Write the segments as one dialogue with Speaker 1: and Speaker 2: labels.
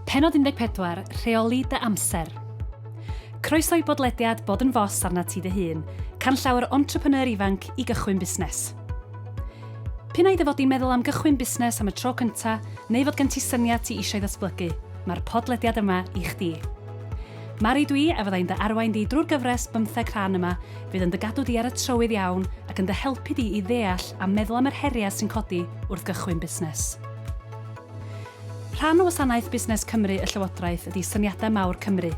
Speaker 1: Pennod 14, Rheoli dy amser. Croeso i bodlediad Bod yn Fos arnat ti dy hun, canllawer entrepreneur ifanc i gychwyn busnes. P'un ai dy fod di'n meddwl am gychwyn busnes am y tro cynta, neu fod gen ti syniad ti eisiau ddatblygu, mae'r podlediad yma i chdi. Mari dwi a fyddai'n dy arwain di drwy'r gyfres bymtheg rhan yma, fydd yn dy gadw di ar y trywydd iawn ac yn dy helpu di i ddeall a meddwl am yr heriau sy'n codi wrth gychwyn busnes. Rhan o wasanaeth Busnes Cymru y Llywodraeth ydi Syniadau Mawr Cymru.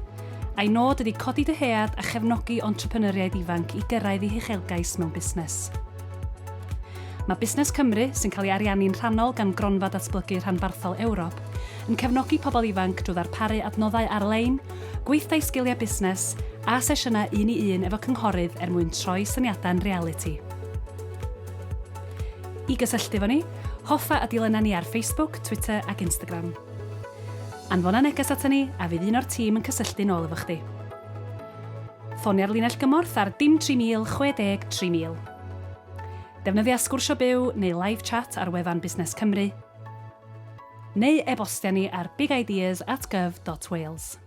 Speaker 1: A'i nod ydi codi dyhead a chefnogi entrepreneuriaid ifanc i gyrraedd eu huchelgais mewn busnes. Mae Busnes Cymru, sy'n cael ei ariannu'n rhannol gan Gronfa Datblygu Rhanbarthol Ewrop, yn cefnogi pobl ifanc drwy ddarparu adnoddau ar-lein, gweithdai sgiliau busnes, a sesiynau un-i-un efo cynghorydd er mwyn troi syniadau'n realiti. I gysylltu efo ni, hoffa y dulennau ni ar Facebook, Twitter ac Instagram. Anfona neges aton ni a fydd un o'r tîm yn cysylltu'n ôl efo chdi. Ffonia'r linell gymorth ar dim 3060 3000. Defnyddia Sgwrsio Byw neu Live Chat ar wefan Busnes Cymru. neu e-bostia ni ar bigideas at gov dot wales.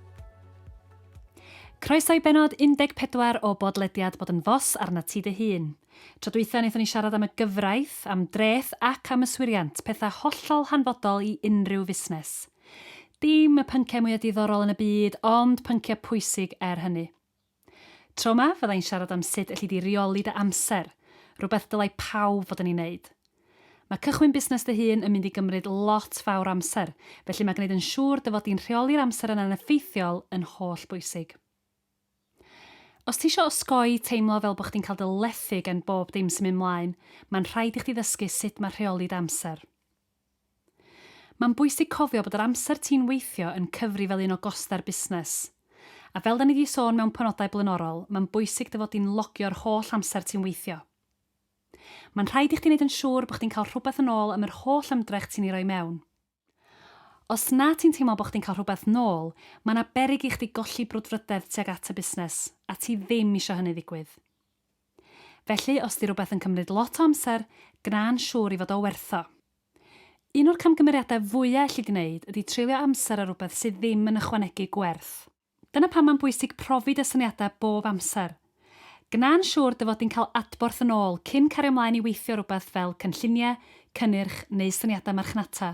Speaker 1: Croeso i bennod 14 o bodlediad Bod yn Fos arnat ti dy hun. Tro dwytha wnaethon ni siarad am y gyfraith, am dreth ac am yswiriant, pethau hollol hanfodol i unrhyw fusnes. Dim y pynciau mwya diddorol yn y byd, ond pynciau pwysig er hynny. Tro 'ma, fydda i'n siarad am sut elli di reoli dy amser, rhywbeth dylai pawb fod yn ei wneud. Mae cychwyn busnes dy hun yn mynd i gymryd lot fawr o amser, felly mae gwneud yn siŵr dy fod di'n rheoli'r amser yna'n effeithiol yn holl bwysig. Os ti isio osgoi teimlo fel bod chdi'n cael dy lethu gan bob dim sy'n mynd 'mlaen, mae'n rhaid i chdi ddysgu sut mae rheoli dy amser. Mae'n bwysig cofio bod yr amser ti'n weithio yn cyfri fel un o gostau'r busnes. A fel 'da ni 'di sôn mewn penodau blaenorol, mae'n bwysig dy fod di'n logio'r holl amser ti'n weithio. Mae'n rhaid i chdi 'neud yn siŵr bod chdi'n cael rhywbeth yn ôl am yr holl ymdrech ti'n ei roi mewn. Os na ti'n teimlo bod chdi'n cael rhywbeth 'nôl, mae 'na beryg i chdi golli brwdfrydedd tuag at y busnes, a ti ddim isio hynny ddigwydd. Felly, os 'di rwbeth yn cymryd lot o amser, gwna'n siŵr i fod o werth o. Un o'r camgymeriadau fwya' elli gwneud ydi treulio amser ar rwbeth sydd ddim yn ychwanegu gwerth. Dyna pam mae'n bwysig profi dy syniadau bob amser. Gwna'n siŵr dy fod di'n cael adborth yn ôl cyn cario 'mlaen i weithio rwbeth fel cynlluniau, cynnyrch neu syniadau marchnata,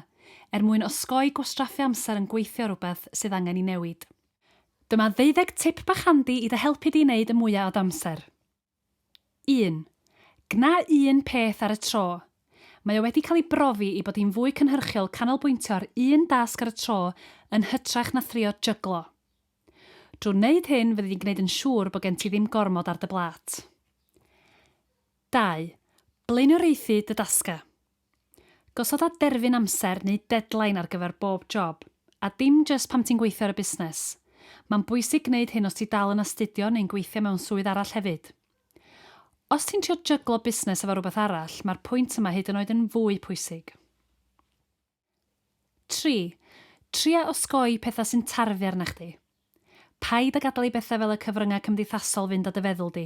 Speaker 1: er mwyn osgoi gwastraffu amser yn gweithio ar rwbeth sydd angen 'i newid. Dyma ddeuddeg tip bach handi i dy helpu di i wneud y mwya o d'amser. Un. Gwna un peth ar y tro. Mae o wedi cael ei brofi i bod hi'n fwy cynhyrchiol canolbwyntio ar un dasg ar y tro yn hytrach na thrio jyglo. Drwy wneud hyn fyddi di'n gwneud yn siŵr bod gen ti ddim gormod ar dy blât. Dau. Blaenoriaethu dy dasgau. Gosoda derfyn amser neu deadline ar gyfer bob job, a dim jyst pan ti'n gweithio ar y busnes. Mae'n bwysig gwneud hyn os ti dal yn astudio neu'n gweithio mewn swydd arall hefyd. Os ti'n trio jyglo busnes efo rhywbeth arall, mae'r pwynt yma hyd yn oed yn fwy pwysig. Tri, tria osgoi pethau sy'n tarfu arna chdi. Paid â gadael i bethau fel y cyfryngau cymdeithasol fynd â dy feddwl di.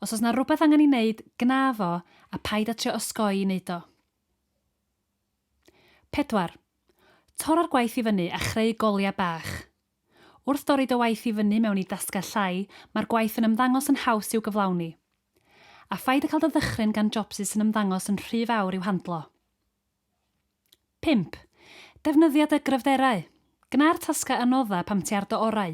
Speaker 1: Os oes 'na rywbeth angen ei wneud, gwna fo, a paid â trio osgoi i wneud o. Pedwar. Torra'r gwaith i fyny a chreu goliau bach. Wrth dorri dy waith i fyny mewn i dasgau llai, mae'r gwaith yn ymddangos yn haws i'w gyflawni. A phaid â cael dy ddychryn gan jobsus sy'n ymddangos yn rhy fawr i'w handlo. Pump, defnyddia dy gryfderau. Gwna'r tasgau anodda pam ti ar dy orau.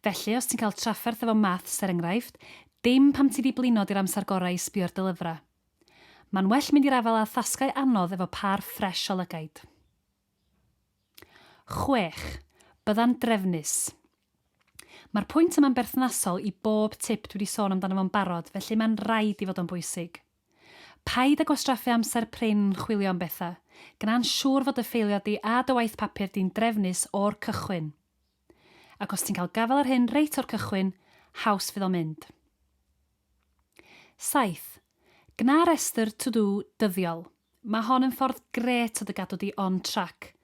Speaker 1: Felly, os ti'n cael trafferth efo Maths, er enghraifft, dim pam ti 'di blino 'di'r amser gorau i sbio ar dy lyfrau. Ma'n well mynd i'r afael â thasgau anodd efo pâr ffresh o lygaid. Chwech, bydda'n drefnus. Ma'r pwynt yma'n berthnasol i bob tip dwi 'di sôn amdano fo'n barod, felly ma'n raid i fod o'n bwysig. Paid â gwastraffu amser prin yn chwilio am bethau, gwna'n siŵr fod dy ffeiliau di a dy waith papur di'n drefnus o'r cychwyn. Ac os ti'n cael gafael ar hyn reit o'r cychwyn, haws fydd o'n mynd. 7. Gwna restr to-do dyddiol. Mae hon yn ffordd grêt o dy gadw di on track.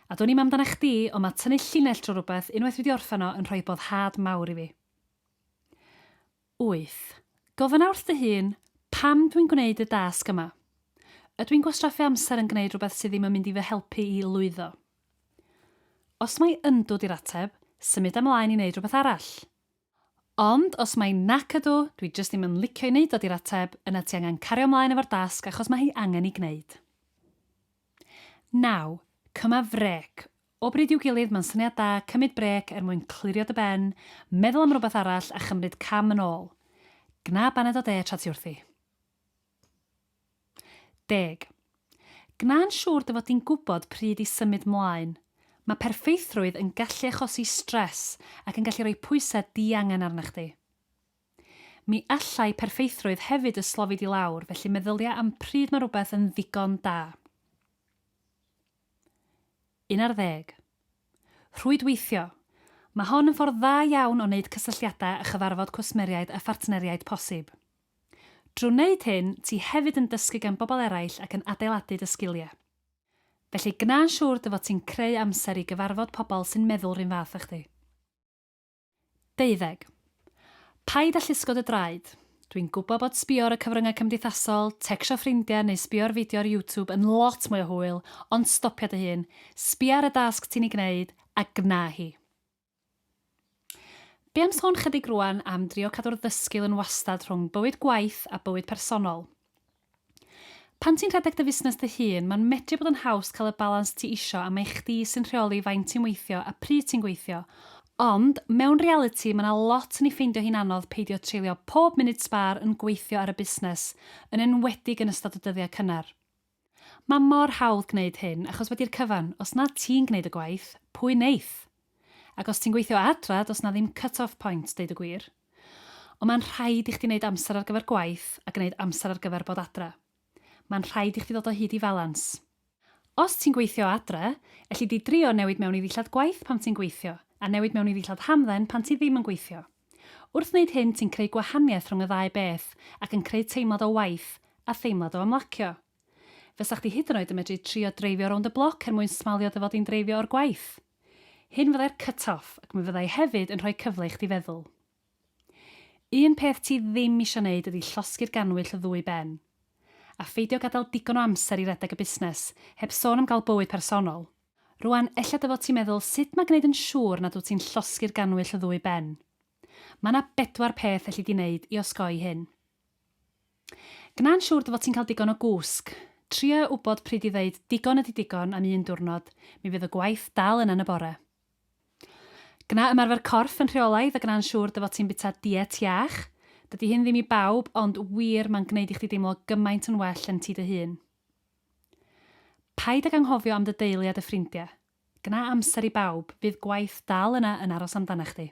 Speaker 1: A dwn i'm amdanach chdi, ond mae tynnu llinell drwy rywbeth unwaith dwi 'di orffen o yn rhoi boddhad mawr i fi. Wyth. Gofynna wrth dy hun, 'Pam dwi'n gwneud y dasg yma? Ydw i'n gwastraffu amser yn gwneud rhywbeth sydd ddim yn mynd i fy helpu i lwyddo? Os mai 'yndw' 'di'r ateb, symud ymlaen i wneud rhywbeth arall. Ond os mai 'nac ydw, dwi jyst ddim yn licio'i wneud o' 'di'r ateb, yna ti angen cario ymlaen efo'r dasg achos mae hi angen ei gwneud. Naw. Cyma frêc. O bryd i'w gilydd, mae'n syniad da cymryd brêc er mwyn clirio dy ben, meddwl am rywbeth arall a chymryd cam yn ôl. Gwna baned o de tra ti wrthi. Deg. Gwna'n siŵr dy fod di'n gwybod pryd i symud 'mlaen. Mae perffeithrwydd yn gallu achosi stress ac yn gallu rhoi pwysau diangen arna chdi. Mi allai perffeithrwydd hefyd dy slofi di lawr, felly meddylia am pryd mae rhywbeth yn ddigon da. Un ar ddeg. Rhwydweithio. Mae hon yn ffordd dda iawn o wneud cysylltiadau a chyfarfod cwsmeriaid a phartneriaid posib. Drwy wneud hyn, ti hefyd yn dysgu gan bobl eraill ac yn adeiladu dy sgiliau. Felly, gwna'n siŵr dy fod ti'n creu amser i gyfarfod pobl sy'n meddwl 'run fath â chdi. Deuddeg. Paid â llusgo dy draed. Dwi'n gwybod bod sbio ar y cyfryngau cymdeithasol, tecsio ffrindiau neu sbio ar fideo ar YouTube yn lot mwy o hwyl, ond stopia dy hun, sbia ar y dasg ti'n ei gwneud, a gwna hi. Be am sôn 'chydig rŵan am drio cadw'r ddysgl yn wastad rhwng bywyd gwaith a bywyd personol? Pan ti'n rhedeg dy fusnes dy hun, mae'n medru bod yn haws cael y balans ti isio a mae chdi sy'n rheoli faint ti'n weithio a pryd ti'n gweithio. Ond, mewn realiti, mae 'na lot yn ei ffeindio hi'n anodd peidio treulio pob munud sbâr yn gweithio ar y busnes, yn enwedig yn ystod y dyddiau cynnar. Mae mor hawdd gwneud hyn, achos wedi'r cyfan, os nad ti'n gwneud y gwaith, pwy wneith? Ac os ti'n gweithio o adra, does 'na ddim cut off point, deud y gwir. Ond mae'n rhaid i chdi wneud amser ar gyfer gwaith a gwneud amser ar gyfer bod adra. Mae'n rhaid i chdi ddod o hyd i falans. Os ti'n gweithio o adra, elli di drio newid mewn i ddillad gwaith pan ti'n gweithio, a newid mewn i ddillad hamdden pan ti ddim yn gweithio. Wrth wneud hyn ti'n creu gwahaniaeth rhwng y ddau beth ac yn creu teimlad o waith a theimlad o ymlacio. Fysa chdi hyd yn oed yn medru trio dreifio rownd y bloc er mwyn smalio dy fod di'n dreifio o'r gwaith. Hyn fyddai'r cut off ac mi fyddai hefyd yn rhoi cyfle i chdi feddwl. Un peth ti ddim isio neud ydi llosgi'r gannwyll o ddwy ben. A pheidio gadael digon o amser i redeg y busnes, heb sôn am gael bywyd personol. Rwan, ella dy fod ti'n meddwl sut mae gneud yn siŵr nad wyt ti'n llosgi'r gannwyll o ddwy ben. Mae 'na bedwar peth elli di neud i osgoi hyn. Gwna'n siŵr dy fod ti'n cael digon o gwsg. Tria wybod pryd i ddeud 'digon ydi digon' am un diwrnod, mi fydd y gwaith dal yna yn y bore. Gwna ymarfer corff yn rheolaidd a gwna'n siŵr dy fod ti'n bwyta diet iach. Dydi hyn ddim i bawb, ond wir, mae'n gwneud i chdi deimlo gymaint yn well yn ti dy hun. Paid ag anghofio am dy deulu a dy ffrindiau. Gwna amser i bawb, fydd gwaith dal yna yn aros amdanach chdi.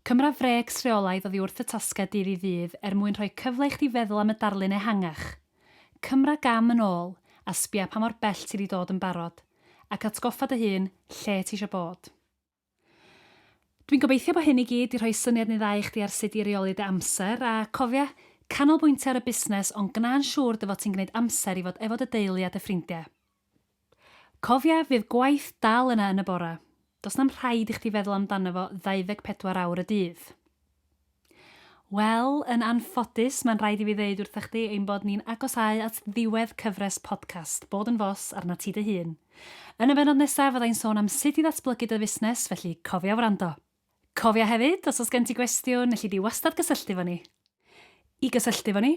Speaker 1: Cymra frêcs rheolaidd oddi wrth y tasgau dydd i ddydd er mwyn rhoi cyfle i chdi feddwl am y darlun ehangach. Cymra gam yn ôl a sbia pa mor bell ti 'di dod yn barod, ac atgoffa dy hun lle ti isio bod. Dwi'n gobeithio bod hyn i gyd 'di rhoi syniad neu ddau i chdi ar sut i reoli dy amser, a cofia, canolbwyntio ar y busnes ond gwna'n siŵr dy fod ti'n gwneud amser i fod efo dy deulu a dy ffrindiau. Cofia, fydd gwaith dal yna yn y bore. Does na'm rhaid i chdi feddwl amdano fo 24 awr y dydd. Wel, yn anffodus, mae'n rhaid i fi ddeud wrthych chdi ein bod ni'n agosáu at ddiwedd cyfres podcast Bod yn Fos arnat ti dy hun. Yn y bennod nesaf fyddai'n sôn am sut i ddatblygu dy fusnes, felly cofia wrando! Cofia hefyd, os oes gen ti gwestiwn, elli di wastad gysylltu efo ni. I gysylltu efo ni,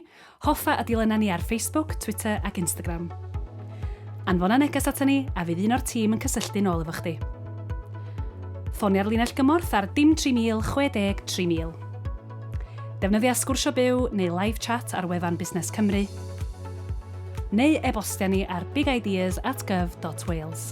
Speaker 1: hoffa a dilyna ni ar Facebook, Twitter ac Instagram. Anfona neges ata ni a fydd un o'r tîm yn cysylltu'n ôl efo chdi. Ffonia'r linell gymorth ar dim 3000 60 3000. Defnyddia Sgwrsio Byw neu Live Chat ar wefan Busnes Cymru, neu e-bostia ni ar bigideas at gov.wales.